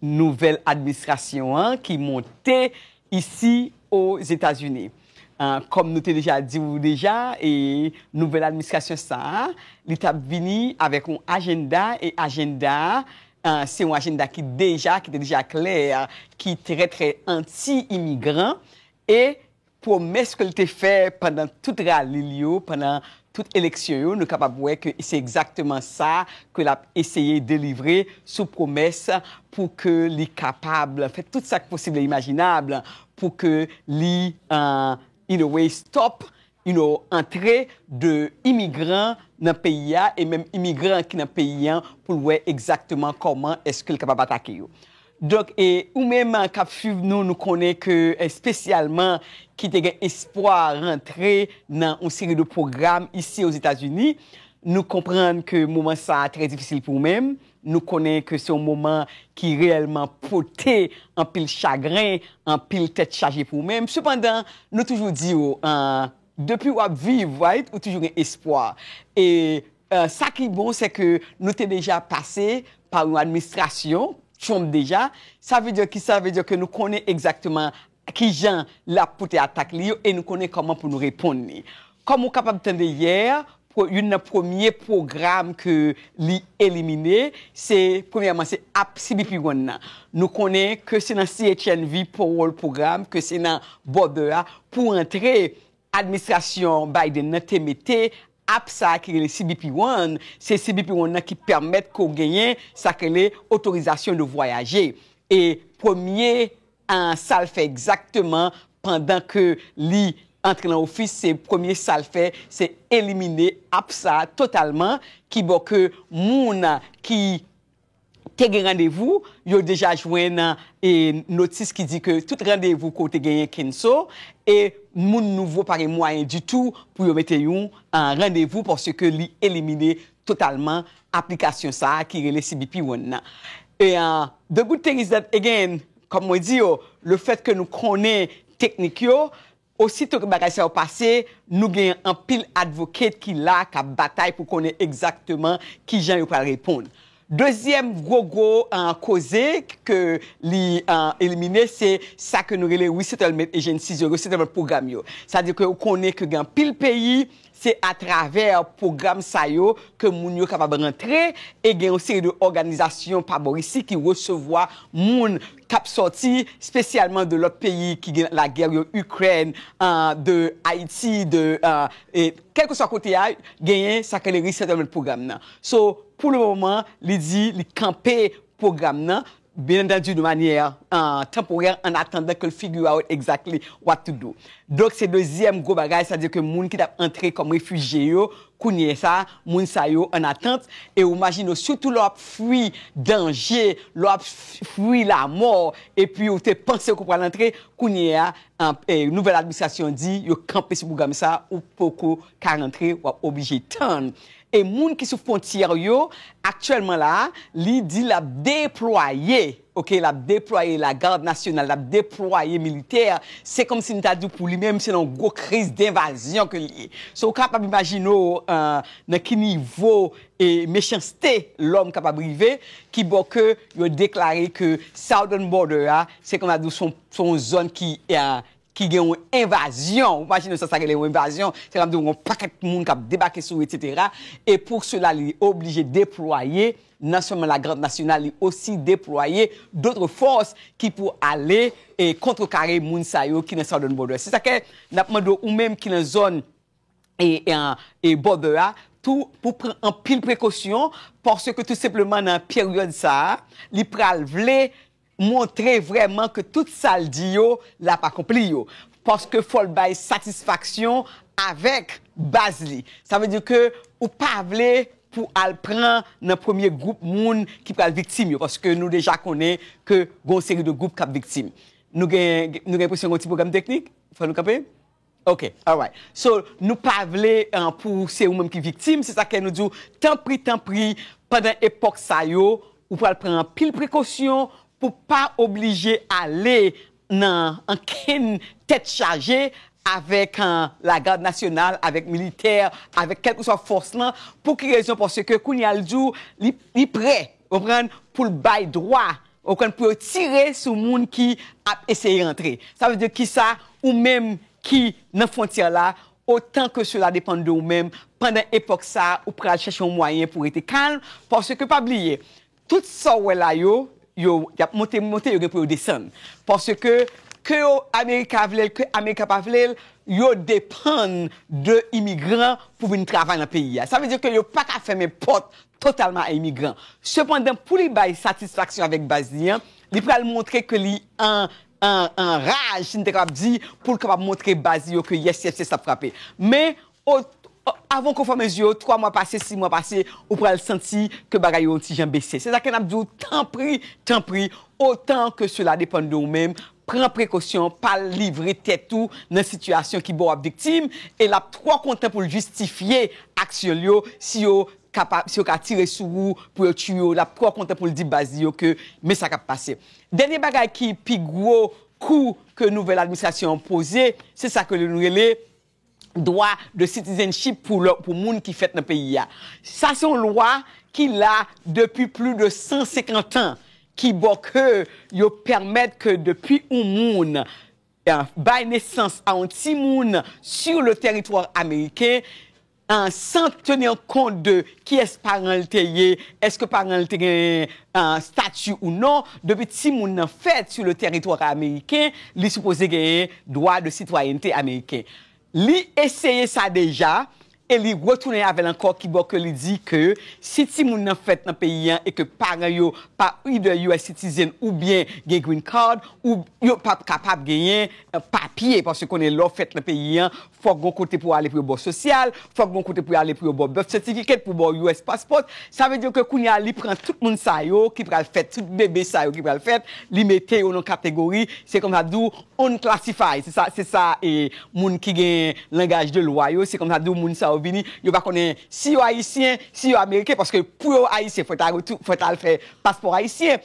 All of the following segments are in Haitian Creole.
Nouvèl administrasyon an ki monte isi o Zetazini. Kòm nou te deja di ou deja, e nouvèl administrasyon sa a, li t ap vini avèk yon ajenda, e ajenda a, se yon ajenda ki deja, ki te deja klè, ki trè trè anti-imigran, e Pwomès ke l te fè pandan tout rali l yo, pandan tout eleksyon yo, nou kapab wè ke se egzakteman sa ke l ap eseye delivre sou pwomès pou ke li kapab fè tout sa k posib e imajinab pou ke li in a way stop you know antre de imigran nan peyi a e menm imigran ki nan peyi an pou l wè egzakteman kòman èske l kapab atake yo. Donk e ou menm kap swiv nou, nou konnen ke espesyalman ki te gen espwa rantre nan yon seri de pwogram isi Ozetazini, nou konprann ke moman sa a trè difisil pou ou menm, nou konnen ke se yon moman ki reyèlman pote anpil chagren, anpil tèt chaje pou ou menm, sepandan nou toujou di ou, depi wap viv right ou toujou gen espwa e Sa ki bon se ke nou te deja pase pa yon administrasyon Trump deja, sa vle di ki sa? Sa vle di ke nou konnen egzakteman ki jan l ap pote atak li yo e nou konnen kòman pou nou reponn li. Kòm ou kapab tande yè, youn nan premye pwogram ke li elimine, se premyèman se ap CBP One nan. Nou konnen ke se nan CHNV Parole Program, ke se nan border a pou antre administrasyon Biden nan te mete App sa a ki rele CBP One, se CBP One nan ki pèmèt ke w genyen sa ki rele otorizasyon de vwayaje. E premye sa l fè egzakteman pandan ke li antre nan ofis, se premye sa l fè, se elimine app sa a totalman ki bo ke moun ki te gen randevou, yo deja jwenn notis ki di ke tout randevou ke w te genyen kenso, e moun nouvo pa gen mwayen ditou pou yo mete yon randevou paske li elimine totalman aplikasyon sa a ki rele CBP One nan. The good thing is that, again, kòm mwen di yo, le fèt ke nou konnen teknik yo, Ositou ke bagay sa yo pase, nou gen anpil advocate ki la k ap batay pou konnen egzakteman ki jan yo pral reponn. Dezyèm gwo gwo koze ke li elimine se sa ke nou rele resettlement agencies yo, resettlement program yo. Sa di ke ou konnen ke gen anpil peyi Se atravè pwogram sa yo ke moun yo kapab rantre e gen yon seri de òganizasyon pa bò isi ki resevwa moun k ap sòti spesyalman de lòt peyi ki gen lagè yo, Ikrèn, de Ayiti, de kèlkeswa kote a genyen sa k rele resettlement program nan. So, pou le moman li di li kanpe pwogram nan. Byen antandi de manyè tanporè an atandan ke l figure out exactly what to do. Donk se dezyèm gwo bagay sa di ke moun ki t ap antre kòm refijye yo kounye sa a moun sa yo an atant e ou majine w sitou lè w ap fwi danje lè w ap fwi lamò epi ou te panse ke w pral antre kounye a nouvèl administrasyon di yo kanpe sou pwogram sa a ou poko ka rantre w ap oblije tann E moun ki sou fwontyè yo aktyèlman la a, li di l ap deplwaye, ok, l ap deplwaye lagad nasyonal, l ap deplwaye militè, se kòmsi m ta di w pou li menm se nan yon gwo kriz denvazyon ke l ye. So ou kapab imajine w nan ki nivo mechanste lòm kapab rive, ki bò ke yo deklare ke Southern Border a se kòm ta di w se yon zòn ki ki gen yon envazyon, ou imajine sa sa rele yon envazyon, se ta vle di yon pakèt moun k ap debake sou ou etsetera, e pou sela li oblije deplwaye nan sèlman lagarde nasyonal li osi deplwaye dotre fòs ki pou ale e kontrekare moun sa yo ki nan Southern Border. Se sa ke n ap mande w ou menm ki nan zòn e Border a tou pou w pran anpil prekosyon paske tou senpleman nan peryòd sa a li pral vle montre vrèman ke tout sa l di yo l ap akonpli yo, paske fò l bay satisfaksyon avèk baz li. Sa vle di ke ou pa vle pou al pran nan premye gwoup moun ki pral viktim yo, paske nou deja konnen ke gen yon seri de gwoup k ap viktim. Nou gen enpresyon gen yon ti pwoblèm teknik, fò nou kanpe. Ok alright so nou pa vle pou se ou menm ki viktim se sa kè nou di w tanpri tanpri pandan epòk sa yo ou pral pran anpil prekosyon pou pa oblije ale nan ankenn tèt chaje avèk lagad nasyonal avèk militè avèk kèlkeswa fòs lan pou ki rezon paske kounye a l di w li prè Konprann, pou l bay dwa, konprann, pou yo tire sou moun ki ap eseye antre. Sa vle di ki sa, ou menm ki nan fwontyè la, otan ke sela depann de ou menm, pandan epòk sa, ou pral chèche yon mwayen pou rete kalm, paske pa bliye, tout sa ou wè la yo, yo, y ap monte, monte, yo gen pou yo desann. Paske, ke yo, Amerika vle l, ke Amerika pa vle l, yo depann de imigran pou vin travay nan peyi a. Sa vle di ke yo pa ka fèmen pòt totalman a imigran. Sepandan, pou li bay satisfaksyon avèk baz li an, li pral montre ke li an, an, an raj, si n te kapab di, pou l kapab montre baz li yo ke yes, yes, yes ap frape. Men, o, o, avan w konn fèmen zye w, twa mwa pase, si mwa pase, ou pral santi ke bagay yo yon ti jan bese. Se sa ke n ap di w, tanpri, tanpri, otan ke sela depann de ou menm, pran prekosyon pa l livre tèt ou nan sitiyasyon ki ba w viktim e l ap twò kontan pou l jistifye aksyon l yo si yo kapab si yo ka tire sou ou pou yo tiye w l ap twò kontan pou l di baz li yo ke men sa k ap pase dènye bagay ki pi gwo kou ke nouvèl administrasyon an poze se sa ke nou rele dwa de citizenship pou moun ki fèt nan peyi ya. Sa se yon lwa ki la depi pli de 150 an ki bo ke yo pèmèt ke depi yon moun bay nesans a yon ti moun sur le teritwa ameriken, san teni an kont de kiyès paran li te ye, eske paran li te gen stati ou non, depi ti moun nan fèt sur le teritwa ameriken, li sipoze genyen. dwa de sitwayènte ameriken. Li eseye sa deja e li retounen avè l ankò kibò ke li di ke si timoun nan fèt nan peyi an e ke paran yo pa either US citizen oubyen gen green card, yo pap kapab genyen papye paske konnen lè w fèt nan peyi an Fòk gon kote pou ale pou yo baw sosyal, fòk gon kote pou ale pou yo baw birth certificate, pou baw us passport, sa vle di ke kounya li pran tout moun sa yo ki pral fèt, tout bebe sa yo ki pral fèt, li mete yo nan kategori, se kòm sa diw unclassified, se sa, se sa e moun ki gen langaj de lwa yo, se kòm sa diw moun sa yo vini, yo pa konnen si yo ayisyen, si yo ameriken, paske pou yo ayisyen fòk ta, fòk ta al fè paspò ayisyen.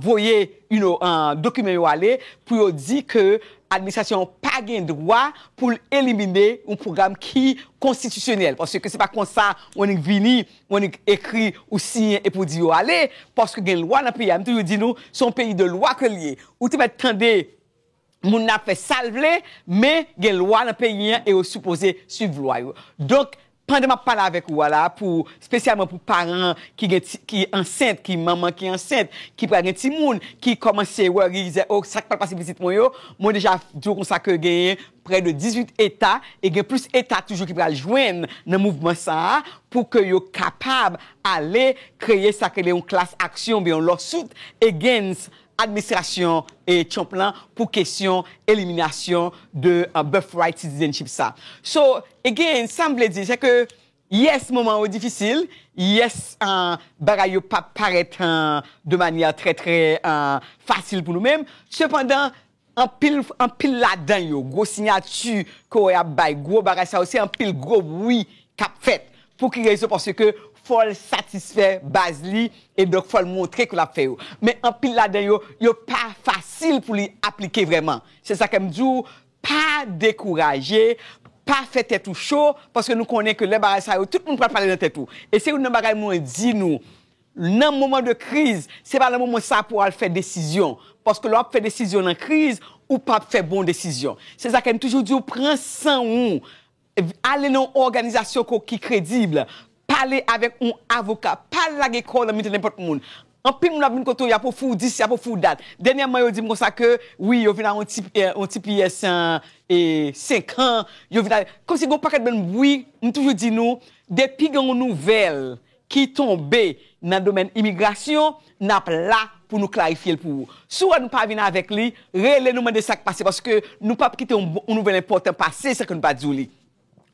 voye you know dokiman yo ale pou yo di ke administrasyon an pa gen dwa pou l elimine yon pwogram ki konstitisyonèl paske se pa konsa ou annik vini ou annik ekri ou siyen epi ou di yo ale paske gen lwa nan peyi a m toujou di nou se yon peyi de lwa ke l ye ou te mèt tande Moun nan ap fè sa l vle, men gen lwa nan peyi an e yo sipoze swiv lwa yo. Donk, pandan m ap pale avèk ou a la a, pou, spesyalman pou paran ki gen ti, ki ansent, ki manman ki ansent, ki pral gen timoun, ki kòmanse wè, ki dizè, o, sa k pral pase pitit mwen yo, mwen deja di w konsa ke genyen prè de 18 eta, e gen plis eta toujou ki pral jwenn nan mouvman sa a, pou ke yo kapab ale kreye sa k rele yon klas aksyon oubyen yon lawsuit against administrasyon Trump lan pou kesyon eliminasyon de birthright citizenship sa. So, again, sa m vle di se ke yes moman yo difisil, yes bagay yo pa parèt de manyè trè trè fasil pou nou menm, sepandan Anpil anpil ladan yo gwo sinyati ke wè yap bay gwo bagay sa yo se anpil gwo bwi kap fèt pou ki rezon paske fòl satisfè baz li e donk fòl montre ke lap fè yo men anpil ladan yo yo pa fasil pou li aplike vrèman se sa kem diw pa dekouraje pa fè tèt ou cho paske nou konnen ke lè bagay sa yo tout moun pral pale nan tèt ou e se youn nan bagay mwen di nou Nan moman de kriz, se pa nan moman sa pou w al fè desizyon. Paske lè w ap fè desizyon nan kriz, ou p ap fè bon desizyon. Se sa kè n toujou di w, pran san ou, ale nan yon òganizasyon ke w ki kredib, pale avèk yon avoka, pa al lage kò w nan mitan nenpòt moun. Anpil moun ap vin kote w, y ap ofri w dis, y ap ofri w dat. Dènyèman yo di m konsa ke, wi yo vin a yon ti, yon ti pyès e senkan, yo vin a, kòmsi gen yon pakèt bann bwi, m toujou di nou, depi gen yon nouvèl ki tonbe nan domèn imigrasyon, n ap la pou nou klarifye l pou ou. Si w wè nou pa vin avèk li, rele nou mande sa k pase paske nou p ap kite yon nouvèl enpòtan pase san ke nou pa di w li.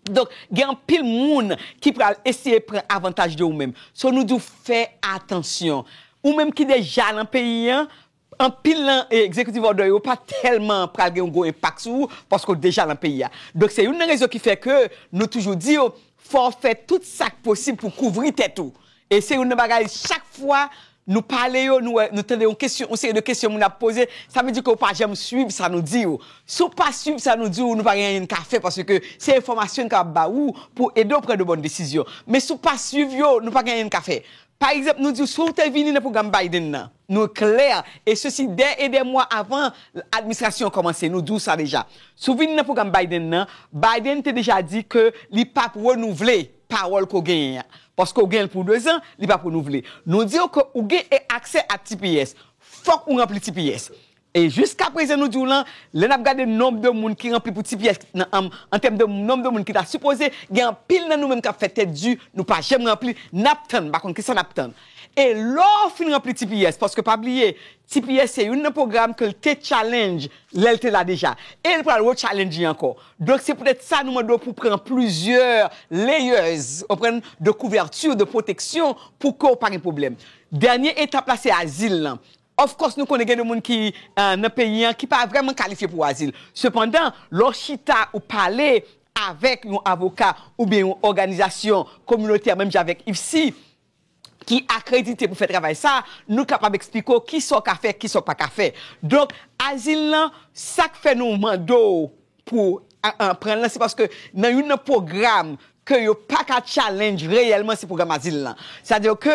Donk, gen anpil moun ki pral eseye pran avantaj de ou menm. So nou di w fè atansyon. Ou menm ki deja nan peyi an, Anpil nan executive order yo pa tèlman pral gen yon gwo enpak sou ou paske w deja lan peyi a. Donk se youn nan rezon ki fè ke nou toujou di w fò w fè tout sa k posib pou w kouvri tèt ou. E se youn nan bagay chak fwa nou pale yo nou wè nou tande yon kesyon yon seri de kesyon moun ap poze sa vle di ke w pa janm swiv sa nou di w. Si w pa swiv sa nou di w nou pa gen anyen n ka fè paske se enfòmasyon n kapab ba ou pou w ede w pran de bòn desizyon. Men si w pa swiv yo nou pa gen anyen n ka fè. Pa egzanp nou di w si w te vini nan pwogram Biden nan. Nou klè, e sesi dè e dè mwa avan administrasyon an kòmanse, nou di w sa deja. Si w vin nan pwogram Biden nan, Biden te deja di ke li pa p renouvle pawòl ke w genyen an. Paske w genyen l pou dezan, li pa p renouvle. Nou di w ke ou gen aksè ak tps, fòk ou ranpli tps. E jiska prezan nou di w lan, lè n ap gade nonb de moun ki ranpli pou ti pyès nan anm an tèm de nonb de moun ki ta sipoze, gen anpil nan nou menm k ap fè tèt di, nou pa janm ranpli, n ap tann, m pa konn kisa n ap tann. E lè w fin ranpli ti pyès, paske pa bliye, ti pyès se youn nan pwogram ke l te tchalenj lè l te la deja, e l pral retchalenj li ankò. Donk se poutèt sa nou mande w pou w pran plizyè layers, ou konprann, de couverture, de protection, pou ke w pa gen pwoblèm. Dènye etap la se azil lan. Of course nou konnen gen de moun ki nan peyi an ki pa vrèman kalifye pou azil. Sepandan, lè w chita ou pale avèk yon avoka oubyen yon òganizasyon kominotè menm jan avèk IFSI ki akredite pou fè travay sa, nou kapab eksplike w kisa w ka fè, kisa w pa ka fè. Donk, azil lan, sa k fè nou mande w pou pran l lan se paske nan youn nan pwogram ke yo pa ka challenge reyèlman se pwogram azil lan. Sa di ke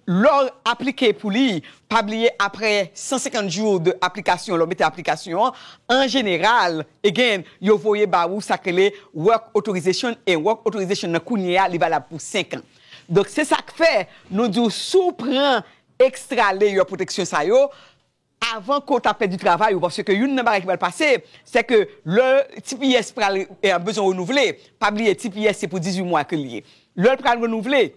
lè w aplike pou li, pa bliye aprè 150 jou de aplikasyon lè w mete aplikasyon an, an jeneral, again, yo voye ba ou sa k rele work authorization e work authorization nan kounye a li valab pou 5 an. Donk se sa k fè nou di w si w pran extra layer protection sa yo, avan ke w ta pèdi travay ou paske youn nan bagay ki pral pase se ke lè tps pral bezwen renouvle pa bliye tps se pou 18 mwa ke l ye lè l pral renouvle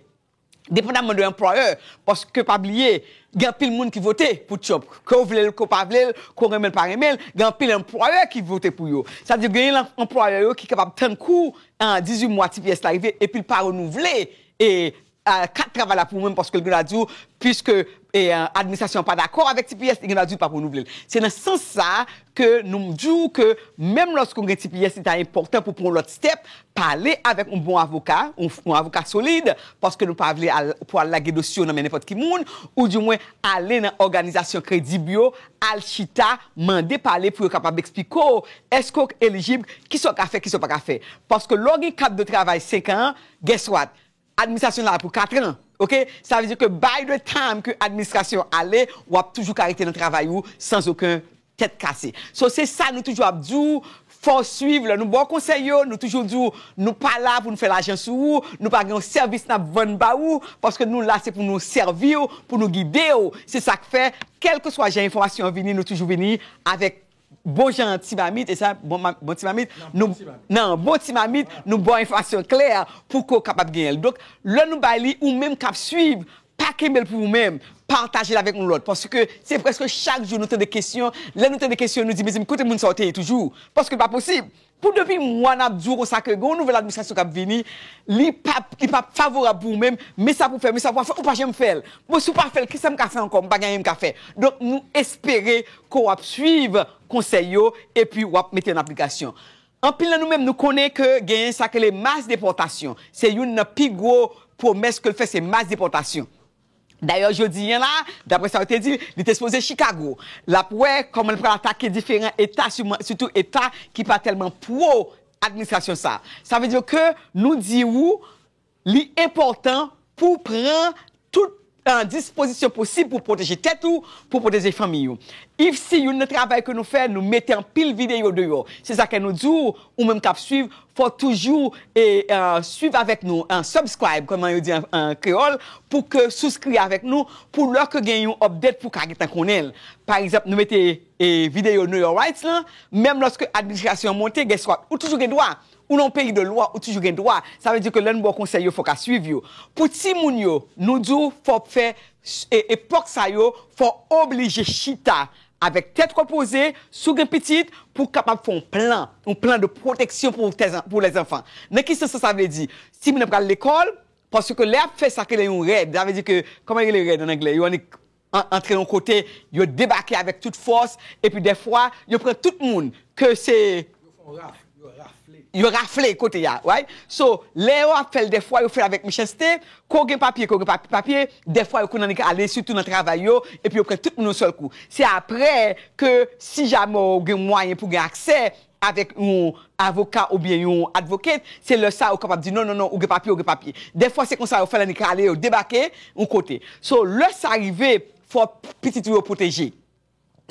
depandamman de employer paske pa bliye gen anpil moun ki vote pou trump ke w vle l ke w pa vle l ke w renmen l pa renmen l gen anpil employer ki vote pou yo sa vle di genyen lan employer yo ki kapab tann kou 18 mwa tps la rive epi l pa renouvle e Kat travay la pou mwen paske li gen dwa di w piske administrasyon an pa dakò avèk tps li gen dwa di w pa renouvle l. Se nan sans sa a ke nou m di w ke menm lòske w gen tps li ta enpòtan pou w pran yon lòt step, pale avèk yon bon avoka, yon avoka solid paske nou pa vle al pou al lage dosye w nan men nenpòt ki moun ou di mwen ale nan òganizasyon kredib yo al chita mande pale pou yo kapab eksplike w èske w elijib, kisa w ka fè kisa w pa ka fè. Paske lè w gen kat de travay 5 an, guess what? Administrasyon la pou 4 ans ok sa vle di ke by the time ke administrasyon ale wap toujou ka rete nan travay ou sans oken tèt kase so se sa nou toujou ap di w fòw swiv lè nou baw konsèy yo nou toujou di w nou pa la pou nou fè lajan sou ou nou pa gen yon sèvis nap vann ba ou paske nou la se pou nou sèvi w pou nou gide w se sak fè kèlkeswa jan enfòmasyon an vini nou toujou vini avèk Bon jan ti mamit e sa bon bon ti mamit nou nan bon ti mamit nou baw enfasyon klè pou ke w kapab genyen l donk lè nou bay li ou menm kap swiv pa kenbe l pou ou menm pataje l avèk yon lòt paske se prèske chak jou nou tande kesyon lè nou tande kesyon nou di mezanmi kote moun sa yo te ye toujou paske l pa posib Pou depi mwa nap di w konsa ke gen yon nouvèl administrasyon kap vini, li pap li pap favorab pou ou menm, men sa pou fè, men sa pou pa fè, ou pa janm fè l. Bon si w pa fè l kisa m ka fè ankò, m pa gen anyen m ka fè. Donk nou espere ke w ap swiv konsèy yo epi w ap mete yo an aplikasyon. Anpil nan nou menm nou konnen ke genyen sa yo rele mas depòtasyon. Se youn nan pi gwo pwomès ke l fè se mas depòtasyon. Dayè jodi an la, daprè sa yo te di, li te sipoze Chikago. L ap wè kòman l pral atake diferan eta sitou eta ki pa tèlman pwo administrasyon sa. Sa vle di ke nou di ou li enpòtan pou w pran tout dispozisyon posib pou w pwoteje tèt ou, pou w pwoteje fanmiy ou. Ifsi youn nan travay ke nou fè, nou mete anpil videyo deyò. Se sa kè nou di w, ou menm k ap suiv, Fòw toujou swiv avèk nou subscribe kòman yo di an kreyòl pou ke souskri avèk nou pou lò ke gen yon update pou ka gentan konnenl pa egzanp nou mete videyo know your rights lan menm lòske administrasyon an monte guess what ou toujou gen dwa ou nan yon peyi de lwa ou toujou gen dwa sa vle di ke lèn baw konsèy yo fòw ka swiv yo pou timoun yo nou diw fòw fè epòk sa yo fòw oblije chita Avèk tèt repoze, si w gen pitit, pou w kapab fè yon plan, yon plan de pwoteksyon pou lèzanfan. Nan ki sans sa sa vle di? Si moun nan pral lekòl, paske lè y ap fè sa k rele yon rèd, sa vle di ke, kòman yo rele rèd ann anglè? Yo annik antre yon kote, yo debake avèk tout fòs, epi dèfwa, yo pran tout moun, ke se. Yo fè yon raf. Yo rafle. Yo rafle kote a wi. So lè yo ap fèl dèfwa yo fèl avèk mechanste, ke w gen papye ke w gen pa papye, dèfwa yo konn annik ale sitou nan travay yo epi yo pran tout moun yon sèl kou. Se aprè ke si jamè w gen mwayen pou gen aksè avèk yon avoka oubyen yon advocate, se lè sa ou kapab di non non non ou gen papye ou gen papye. Dèfwa se konsa yo fèl annik ale yo debake yon kote. So lè sa rive fò pitit ou yo pwoteje.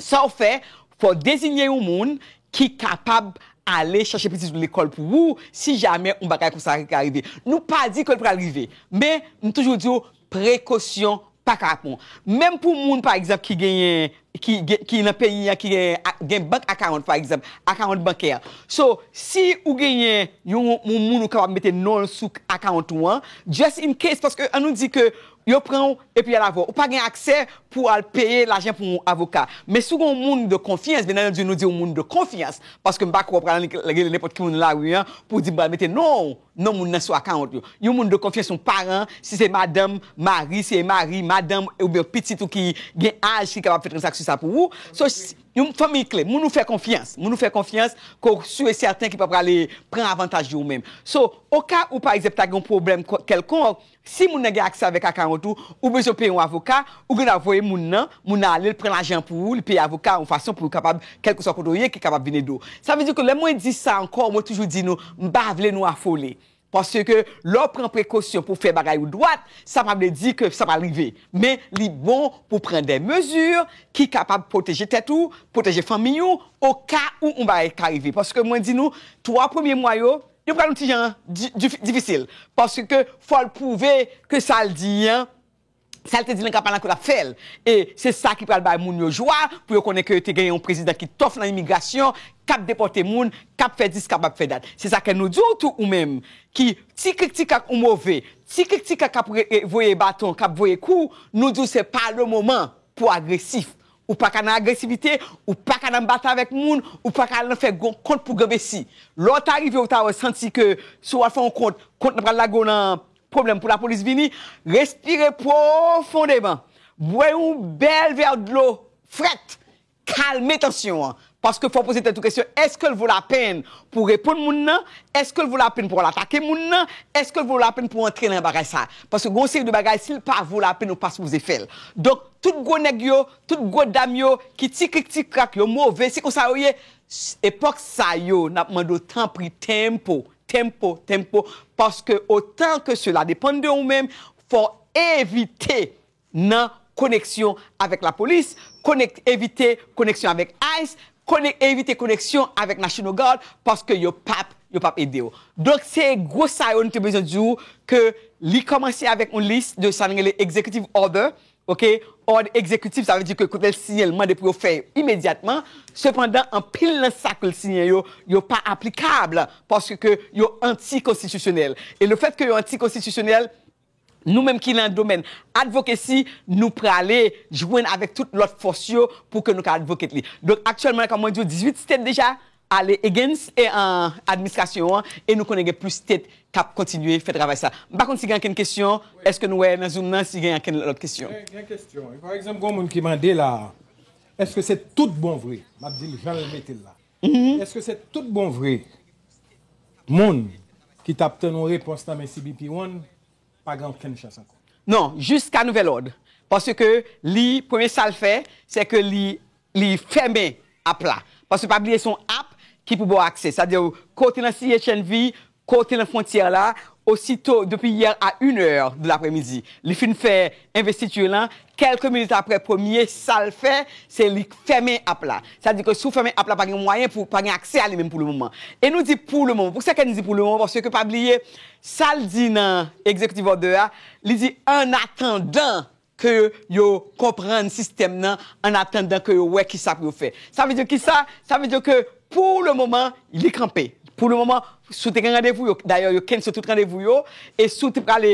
Sa w fè, Fò w dezinye yon moun ki kapab ale chache pitit ou lekòl pou ou si jamè yon bagay konsa ta rive. Nou pa di ke l pral rive, men m toujou di w prekosyon pa kapon. Menm pou moun pa egzanp ki genyen, ki nan peyi an ki gen bank akawont pa egzanp, akawont bankè. So, si ou genyen yon moun ou kapab mete non l sou akawont ou an, just in case, paske an nou di ke yo pran w Epi al avèw. Ou pa gen aksè pou al peye lajan pou yon avoka. Men si w gen yon moun de konfyans, byen antandu nou di yon moun de konfyans, paske m pa kwè w pral annik rele nenpòt ki moun nan lari an pou w di m pral mete non w, non moun nan sou akawont yo. Yon moun de konfyans, yon paran, si se madanm, mari, si e mari, madanm, oubyen yon pitit ou ki gen aj ki kapab fè tranzaksyon sa pou ou. So, yon fanmiy kle, moun ou fè konfyans, moun ou fè konfyans ke w su e sèten ki pa prale pran avantaj de ou menm. So, o ka ou pa egzanp ta gen yon pwoblèm kèlkonk, Si moun nan gen aksè avèk akawont ou, ou bezwen peye yon avoka, ou gen dwa voye moun nan, moun nan ale, l pran lajan an pou ou, li peye avoka a yon fason pou yo kapab, kèlkeswa kote w ye, ki kapab vin ede w. Sa vle di ke lè mwen di sa ankò, mwen toujou di nou, m pa vle nou afole. Paske lè w pran prekosyon pou w fè bagay ou dwat, sa pa vle di ke sa pral rive. Men, li bon pou w pran dè mezi ki kapab pwoteje tèt ou, pwoteje fanmiy ou, oka ou yon bagay ka rive. Paske mwen di nou, 3 premye mwa yo, Yo pral yon ti jan difisil paske fòl pwouve ke sal di an, sal te di nan kanpay lan ke lap fèl e se sa ki pral bay moun yo jwa pou yo konnen ke te gen yon prezidan ki tòf nan imigrasyon, kap depòte moun, kap fè dis kap ap fè dat. Se sa kè nou di w tou ou menm ki ti krik ti krak ou move, ti krik ti krak kap voye baton, kap voye kou, nou di w se pa le moman pou agresif. Ou pa ka nan agresivite, ou pa ka nan batay avèk moun, ou pa ka al nan fè gwo kont pou granmesi. Lè w ta rive ou ta wè santi ke si w al fè yon kont, kont lan pral lage w nan pwoblèm pou lapolis vini, respire pwofondeman, bwè yon bèl vè dlo frèt, kalme tansyon an. Paske fò w poze tèt ou kesyon, èske l vo lapenn pou w reponn moun nan? Èske l vo lapenn pou w al atake moun nan? Èske l vo lapenn pou w antre nan bagay sa? Paske gen yon seri de bagay, si l pa vo lapenn ou pa sipoze fè l. Donk, tout gwo nèg yo, tout gwo dam yo, ki ti krik ti krak, yo move, se konsa yo ye. Epòk sa yo, n ap mande w tanpri tempo, tempo, tempo, paske otan ke sela depann de ou menm, fò w evite nan koneksyon avèk lapolis, konek evite koneksyon avèk ice, konek evite koneksyon avèk national guard paske yo pap yo pap ede w. Donk se gwo sa yo nou te bezwen di w ke li kòmanse avèk yon lis de sa nou rele executive order ok òd egzekitif sa vle di ke kote l siyen l mande pou yo fè imedyatman sepandan anpil nan sa ke l siyen yo yo pa aplikab paske ke yo anti konstitisyonèl e lefèt ke yo anti konstitisyonèl Nou menm ki lan domèn advocacy nou prale jwenn avèk tout lòt fòs yo pou ke nou ka advocate li. Donk aktyèlman la kòm mwen di w 18 state deja ale against administrasyon an e nou konnen gen plis state kap kontinye fè travay sa. M pa konn si gen ankenn kesyon, eske nou wè nan zoom nan si gen ankenn lòt kesyon? Gen kesyon wi. Pa egzanp gon moun ki mande la a, eske se tout bon vre? Map di l jan l mete l la. Eske se tout bon vre moun ki tap tann yon repons nan men CBP One pa gen okenn chans ankò? Non, jiska nouvèl òd. Paske li, premye sa l fè, se ke li li fèmen app la. Paske pa bliye se yon app ki pou ba w aksè. Sa vle di kote nan CHNV Kote nan frontyè la, osito depi yè a yn è de lapremidi li fin fè envestiture lan, kèlke minit aprè premye sal fè se li fèmen app la, sa di ke si w fèmen app la pa gen mwayen pou pa gen aksè a li menm pou le moman. E nou di pou le moman, pou sa kè n di pou le moman paske pa bliye sal di nan executive order a, li di an atandan ke yo konprann sistèm nan an atandan ke yo wè kisa pou yo fè. Sa vle di kisa? Sa vle di ke pou le moman li kanpe. Pou le moman, si w te gen randevou yo, dayè yo kense tout randevou yo, e si w te prale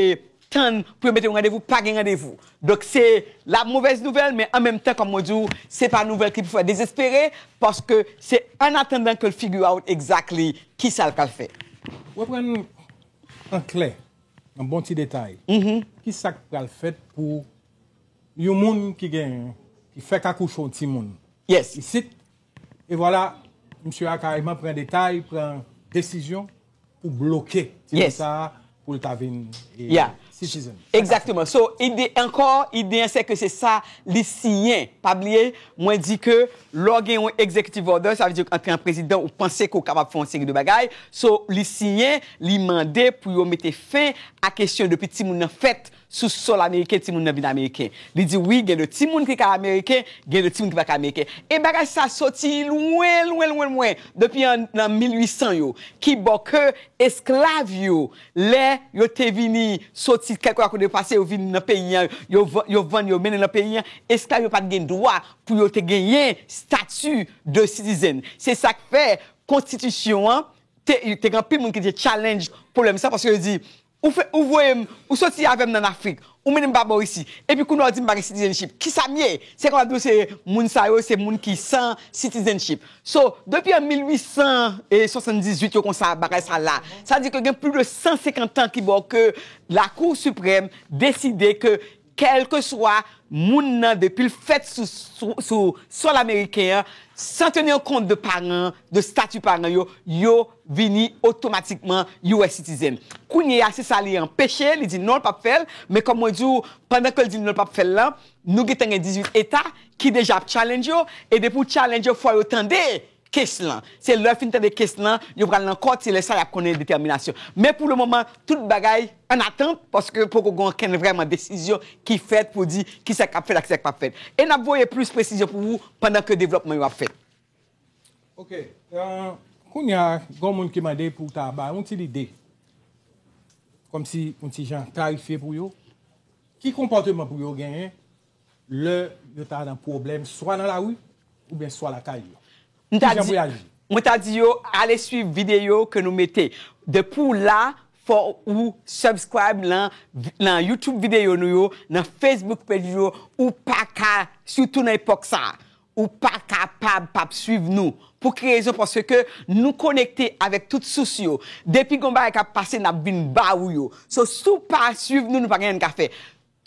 tann pou yo mete yon randevou, pa gen randevou. Donk se la movèz nouvèl men an menm tan kòm mwen di w, se pa nouvèl ki pou fè w dezespere paske se an atandan ke l figure out exactly kisa l pral fè. Reprann an klè. Yon bon ti detay, ki sa k pral fèt pou yon moun ki gen, ki fèk akouche yon ti moun isit, e vwala msye a kareman pran detay, pran desizyon pou bloke ti moun sa a pou l ta vin citizen. Exactement, so ide ankò, ide an se ke se sa li siyen, pa bliye Mwen di ke lè w gen yon executive order, sa vle di an tan prezidan ou panse ke w kapab fè yon seri de bagay, so li siyen, li mande pou yo mete fen a kesyon depi timoun nan fèt sou sòl ameriken timoun nan vin ameriken. Li di wi gen de timoun ki ka ameriken, gen de timoun ki pa ka ameriken. E bagay sa soti lwen lwen lwen lwen depi an nan 1800 yo. Kibò ke esklav yo Lè yo te vini soti kèk lwa kote yo pase, yo vin nan peyi an, yo vann yo mennen nan peyi an, esklav yo pa t gen dwa pou yo te genyen stati de citizen. Se sa k fè konstitisyon an te gen anpil moun ki te challenge pwoblèm sa paske yo di, ou voye m, ou soti avè m nan Afrik, Ou minm pa bo isi. Epi kounya w di m pa gen citizenship. Kisa m ye? Se konn ap di w se moun sa yo se moun ki san citizenship. So, depi an 1878 yo konsa bagay sa la. Sa di ke gen plis de 150 tan ki bo ke lakou siprèm deside ke kèlkeswa moun nan depi l fèt sou sòl ameriken an, san tenir kont de paran, de stati paran yo, yo. vini otomatikman US citizen kounye a se sa li anpeche li di non l pap fè l men kòm mwen di w pandan ke l di non l pap fè l lan nou gentan gen 18 eta ki deja ap challenge yo e depi w challenge yo fò yo tande kes lan se lè yo fin tande kes lan yo pral nan kòt se lè sa y ap konnen detèminasyon men pou le moman tout bagay an atant paske poko gen okenn vrèman desizyon ki fèt pou di kisa k ap fèt ak kisa k pap fèt e n ap voye plis presizyon pou ou pandan ke devlòpman yo ap fèt. Ok, kounya gon moun ki mande pou ta ba yon ti lide, kòm si yon ti jan klarifye pou yo, ki konpòteman pou yo genyen lè yo ta nan pwoblèm swa nan lari oubyen swa lakay yo. Ki jan pou y aji? Mwen ta di yo ale swiv videyo ke nou mete. Depi w la, fò ou subscribe nan youtube videyo nou yo, nan facebook page nou yo, ou paka, sitou nan epòk sa a. Ou pa kapab pap swiv nou. Pou ki rezon paske nou konekte avèk tout sous yo. Depi gon bagay kap pase nap vin ba ou yo. So si w pa swiv nou nou pa gen anyen n ka fè.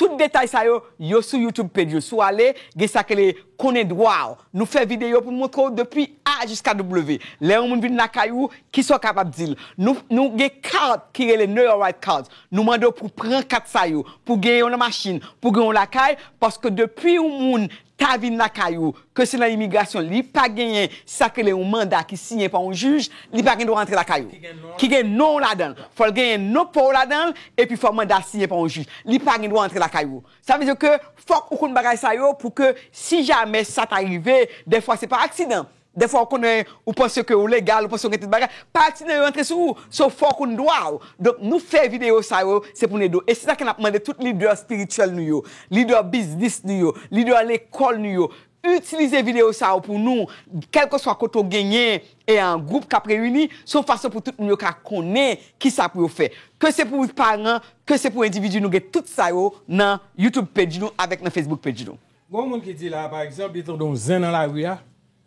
Tout detay sa yo, yo sou YouTube Pedro. Si w ale gen sa ki rele konnen dwa w. Nou fè videyo pou n montre w depi A jiska W. Lè yon moun vin lakay ou kisa w kapab di l. Nou gen kat ki rele Know Your Right Cards. Nou mande w pou pran kat sa yo. Pou w gen yo nan machin, pou w gen yo lakay paske depi yon moun ta vin lakay ou, ke se nan imigrasyon, li pa genyen sa k rele yon manda ki siyen pa yon jij, li pa gen dwa antre lakay ou, ki gen non w ladan l. Fò l genyen non pa w ladan l, epi fò manda a siyen pa yon jij. Li pa gen dwa antre lakay ou. Sa vle di ke fòk ou konn bagay sa yo pou ke si jamè sa ta rive, dèfwa se pa aksidan, Dèfwa ou konnen, ou panse ke ou legal, ou panse ou gen tout bagay, pa ti nèg yo rantre sou ou, so fò ou konn dwa ou. Donk nou fè videyo sa yo, se pou nou ede w. E se sa ke nap mande tout lidè espirityèl nou yo, lidè biznis nou yo, lidè lekòl nou yo, itilize videyo sa yo pou nou, kèlkeswa kote ou genyen e an gwoup kap reyini, se yon fason pou tout moun yo ka konnen kisa pou yo fè. Ke se pou paran, ke se pou endividi nou gen tout sa yo nan YouTube page nou avèk nan Facebook page nou. Gon moun ki di la pa egzanp li tande yon zen nan lari a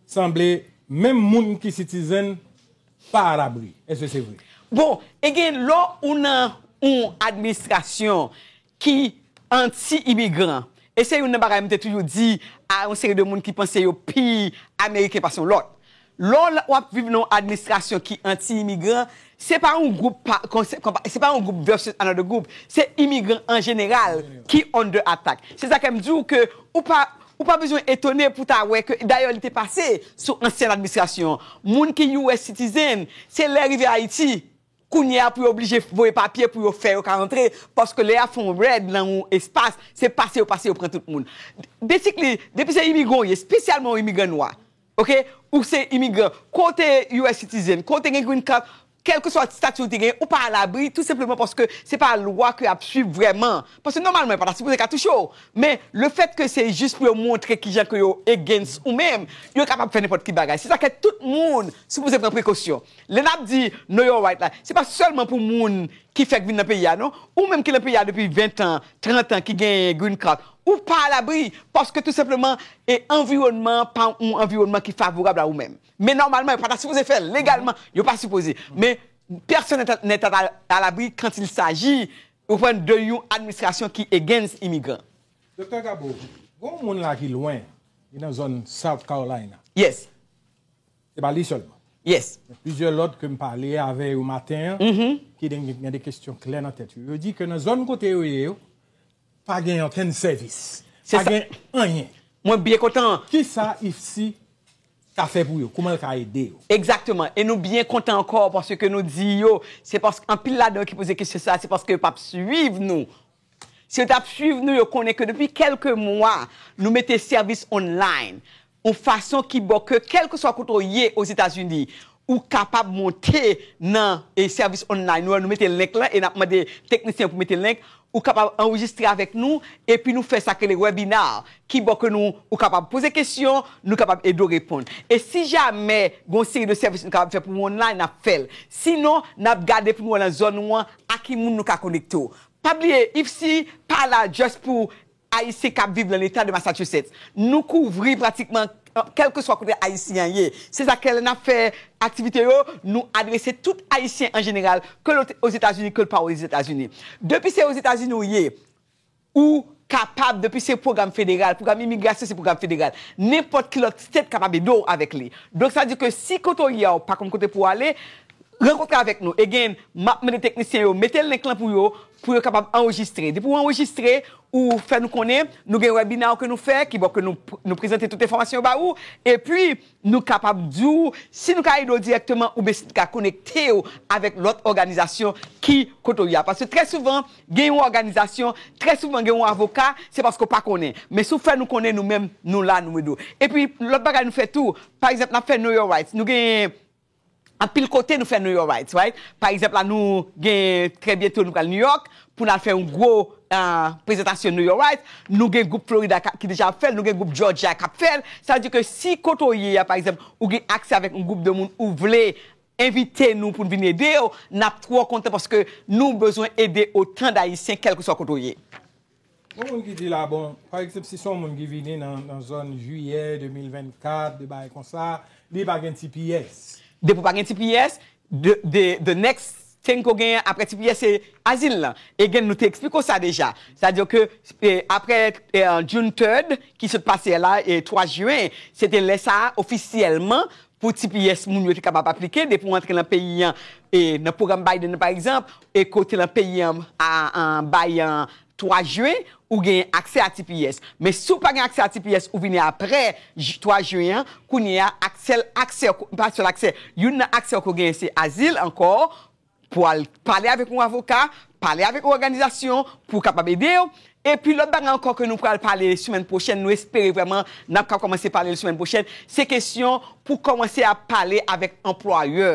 sanble menm moun ki citizen pa a labri eske se vre? Bon e gen lò ou nan yon administrasyon ki anti imigran e se youn nan bagay m te toujou di a yon seri de moun ki panse yo pi ameriken pase yon lòt Lè w ap viv nan yon administrasyon ki anti-imigran, se pa yon gwoup pa se pa yon gwoup versus another group, se imigran an jeneral ki under attack. Se sa k fè m di w ke ou pa ou pa bezwen etone pou ta wè ke dayè li te pase sou ansyen administrasyon. Moun ki US citizen, se lè rive Ayiti Kounye a pou yo oblije voye papye pou yo fè yo ka antre paske lè y ap fè yon rèd nan yon espas se pase yo pase yo pran tout moun. Basically depi se imigran ou ye espesyalman yon imigran nwa ok ou se imigran ke w te us citizen ke w te gen green card kèlkeswa stati ou te genyen ou pa alabri tou senpleman paske se pa lwa ke y ap swiv vrèman paske nòmalman yo pa ta sipoze ka touche w men le fèt ke se jis pou yo montre kijan ke yo against ou menm yo kapab fè nenpòt ki bagay se sa k fè tout moun sipoze pran prekosyon. Lè nap di know your right la, se pa sèlman pou moun ki fèk vin nan peyi a non. Ou menm ki nan peyi a depi 20 tan, 30 tan ki genyen green card, ou pa a labri paske tou senpleman e anviwònman an pa yon anviwònman ki favorab a ou menm. Men nòmalman yo pa ta sipoze fè l, legalman yo pa sipoze. Men pèsonn nèt a a labri kant il saji, ou konprann, de yon administrasyon ki against imigran. Doktè Gabo, gen yon moun la ki lwen, li nan zòn South Carolina. Yes. Se pa li sèlman. Yes. Gen plizyè lòt ke m pale avè yo maten an, ki gen de kesyon klè nan tèt yo. Yo di ke nan zòn kote yo ye yo, pa gen okenn sèvis. Se sa. Pa gen anyen. Mwen byen kontan. Ki sa IFSI ka fè pou yo? Kouman l ka ede yo? Egzakteman. E nou byen kontan ankò paske nou di yo, se paske anpil ladan yo ki poze kesyon sa a, se paske yo pa p suiv nou Si yo t ap suiv nou, yo konnen ke depi kèlke mwa, nou mete sèvis online yon fason ki bon ke kèlkeswa kote w ye Ozetazini, ou kapab monte nan sèvis online nou an. Nou mete link lan e n ap mande teknisyen pou mete link. Ou kapab anrejistre avèk nou epi nou fè sa k rele webinar ki bon ke nou ou kapab poze kesyon, nou kapab ede w reponn. E si jamè gen yon seri de sèvis nou kapab fè pou ou online, n ap fè l. Sinon, n ap gade pou nou wè nan zòn ou an a ki moun nou ka konekte w. Pa bliye IFPC pa la just pou Ayisyen kap viv lan leta de Massachusetts. Nou kouvri pratikman kèlkeswa kote Ayisyen an ye. Se sa kè lè nap fè aktivite yo, nou adrese tout Ayisyen an jeneral ke l Ozetazini ke l pa Ozetazini. Depi se Ozetazini ou ye, ou kapab depi se pwogram federal, pwogram imigrasyon se pwogram federal, nenpòt ki lòt state kapab ede w avèk li. Donk sa di ke si kote w ye a ou pa konn kote pou w ale, Rankontre avèk nou again map mande teknisyen yo mete link lan pou yo pou yo kapab anrejistre depi ou anrejistre ou fè nou konnen nou gen webinar ke nou fè ki bon ke nou prezante tout enfòmasyon yo ba ou epi nou kapab di ou si nou ka ede w dirèkteman oubyen si nou ka konekte w avèk lòt òganizasyon ki kote w ye a paske trè souvan gen yon òganizasyon trè souvan gen yon avoka se paske w pa konnen men si w fè nou konnen nou menm nou la nou ede w epi lòt bagay nou fè tou pa egzanp nap fè know your rights nou gen Anpil kote nou fè nou yo right right pa egzanp la nou gen trè byento nou pral Nouyòk pou nal fè yon gwo prezantasyon nou yo right nou gen gwoup Florida ki deja ap fèl nou gen gwoup Jòjya kap fèl sa vle di ke si kote w ye a pa egzanp ou gen aksè avèk yon gwoup de moun ou vle envite nou poun vin ede w nap twò kontan paske nou bezwen ede otan dayisyen kèlkeswa kote w ye. Gen moun ki di la bon, pa ekzanp si se yon moun ki vini nan zòn jiyè 2024, de bagay konsa, li pa gen tps. Depi w pa gen tps, the next thing ke w genyen apre tps se azil lan. E gen nou te eksplike w sa deja. Sa di ke apre June 3rd ki sot pase a la, 3 jen, se te lè sa a ofisyèlman Pou ti pyès moun yo te kapab aplike depi w antre nan peyi an e nan pwogram Biden nan pa egzanp e ke w te nan peyi an bay 3 jen ou gen aksè a ti pyès. Men si w pa gen aksè a ti pyès ou vini aprè 3 jen an kounye a ak sèl aksè w pa sèl aksè youn nan aksè w ke w genyen se azil ankò Pou al pale avèk yon avoka, pale avèk yon òganizasyon pou yo kapab ede yo. Epi lòt bagay ankò ke nou pral pale semèn pwochèn, nou espere vrèman n ap ka kòmanse pale l semèn pwochèn, se kesyon pou kòmanse ap pale avèk anplwayè.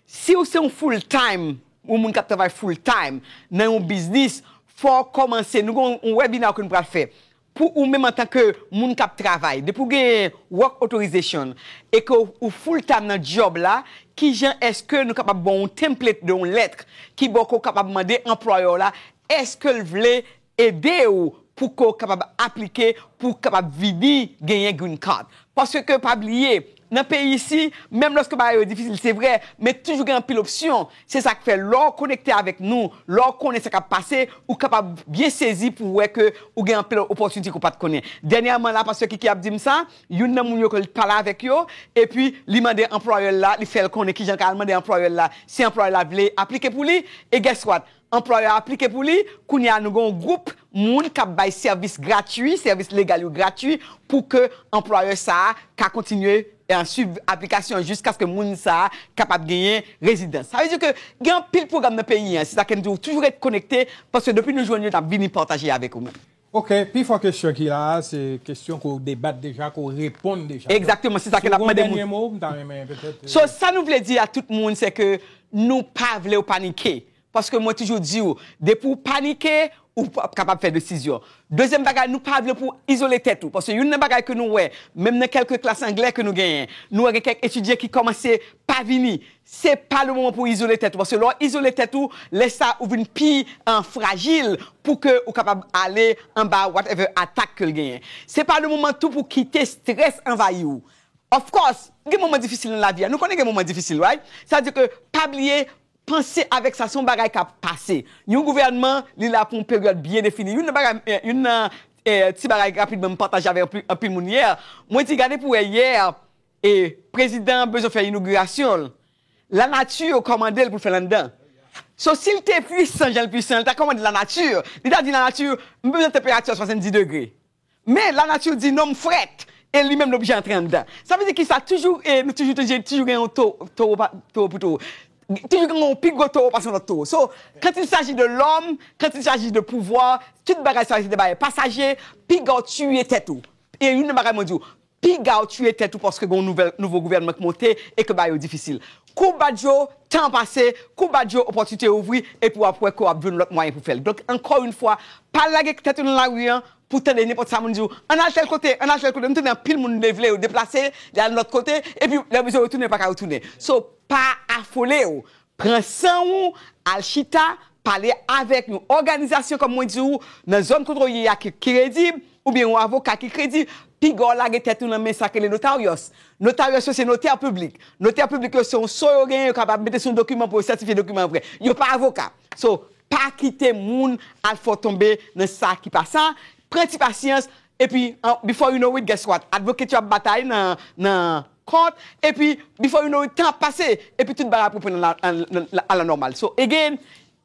Si ou se yon full time, yon moun k ap travay full time nan yon biznis, fò ou kòmanse, nou gen yon webina ke nou pral fè Pou ou menm antanke moun kap travay, depi ou genyen work authorization e ke ou full time nan job la, kijan eske nou kapab ban ou template de yon lettre ki bon ke ou kapab mande anplwayè w la eske l vle ede ou pou ke ou kapab aplike pou kapab vini genyen green card. Paske ke pa bliye Nan peyi isi, menm lòske bagay yo difisil se vre, men toujou gen anpil opsyon. Se sa k fè lè w konekte avèk nou, lè w konnen sa k ap pase, ou kapab byen sezi pou w wè ke ou gen anpil opòtinite ke w pa t konnen. Dènyèman la, pastè Kiki ap di m sa, youn nan moun yo ke l t pale avèk yo, epi li mande anplwayè l la, li fè l konnen kijan l ka al mande anplwayè l la si anplwayè l la vle aplike pou li, e guess what? Anplwayè a aplike pou li, kounye a nou gen yon gwoup moun kap bay sèvis gratui, sèvis legal yo gratui pou ke anplwayè sa a ka kontinye swiv aplikasyon an jiskaske moun sa a kapab genyen rezidans. Sa vle di ke gen anpil pwogram nan peyi an, se sa ke m di w toujou ret konekte paske depi nou jwenn yo nap vini pataje avèk ou menm. Ok, pi fò kesyon ki la a se kesyon ke w debat deja, ke w reponn deja. Donk, Exactement, se sa si ke w lap gen yon mande moun. dènye mo, m ta renmen petèt. So, sa nou vle di a tout moun se ke nou pa vle w panike. Paske mwen toujou di w, depi w panike, ou pap kapab fè desizyon. Dezyèm bagay, nou pa vle pou w izole tèt ou. Paske youn nan bagay ke nou wè, menm nan kèlke klas anglè ke nou genyen, nou wè gen kèk etidyan ki kòmanse pa vini. Se pa le moman pou izole tèt ou paske lè w izole tèt ou lè sa ou vin pi frajil pou ke ou kapab ale anba whatever atak ke l genyen. Se pa le moman tou pou kite strès anvayi ou. Of course, gen moman difisil nan lavi a, nou konnen gen moman difisil right? Sa vle di ke pa bliye panse avèk sa se yon bagay k ap pase. Yon gouvènman li la pou yon peryòd byen defini. Youn nan bagay, youn nan ti bagay rapidman m pataje avèk anpil moun yè, mwen di gade pou wè yè E prezidan an bezwen fè inougirasyon l, lanati yo kòmande l pou l fè l anndan. So si l te puisan jan l puisan, li ta kòmande lanati, li ta di lanati, m bezwen tanperati a 70 degre. Men lanati di non m frèt e li menm li oblije antre anndan. Sa vle di ki sa, toujou e nou toujou tande toujou gen yon towo pa towo pou towo. Toujou gen yon pi gwo towo pase yon lòt towo. So quand il s'agit de l'homme, quand il s'agit de pouvoir, tout bagay sa yo se de bagay pasaje, piga w tiye tèt ou. E youn nan bagay mwen di w, Pigaw tuye tèt ou paske gen yon nouvo gouvènman k monte e ke bagay yo difisil. Kou bat yo, tan an pase, kou bat yo, opòtinite yo ouvri epi wap wè ke wap jwenn lòt mwayen pou fèl. Donk ankò yon fwa, pa lage tèt ou nan lari an pou tande nenpòt sa moun diw, an al tèl kote, an al tèl kote. M tande anpil moun lè yo vle yo deplase, yo al lòt kote epi lè yo bezwen retounen yo paka retounen. So pa afolew, Pran san ou, al chita, pale avèk yon òganizasyon kòm mwen di ou nan zòn kote w ye a ki kredib, oubyen yon avoka ki kredib, piga w lage tèt ou nan men sa k rele notarios. Notarios yo se notè piblik. Notè piblik yo se yon so yo genyen yo kapab mete sou yon dokiman pou yo sètifye dokiman an vrè. Yo pa avoka. So, pa kite moun al fè w tonbe nan sa ki pa sa, pran ti pasyans, epi before you know it guess what? Advocate yo ap batay nan Court epi before you know it tan ap pase epi tout bagay ap reprann a la normale so again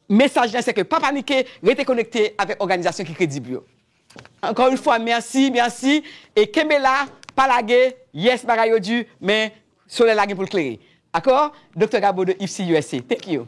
mesaj la se ke pa panike rete konekte avèk òganizasyon ki kredib yo ankò yon fwa merci merci e kenbe la pa lage yes bagay yo di men solèy la gen pou l klere dakò Doktè Gabo de IFCUSC thank you.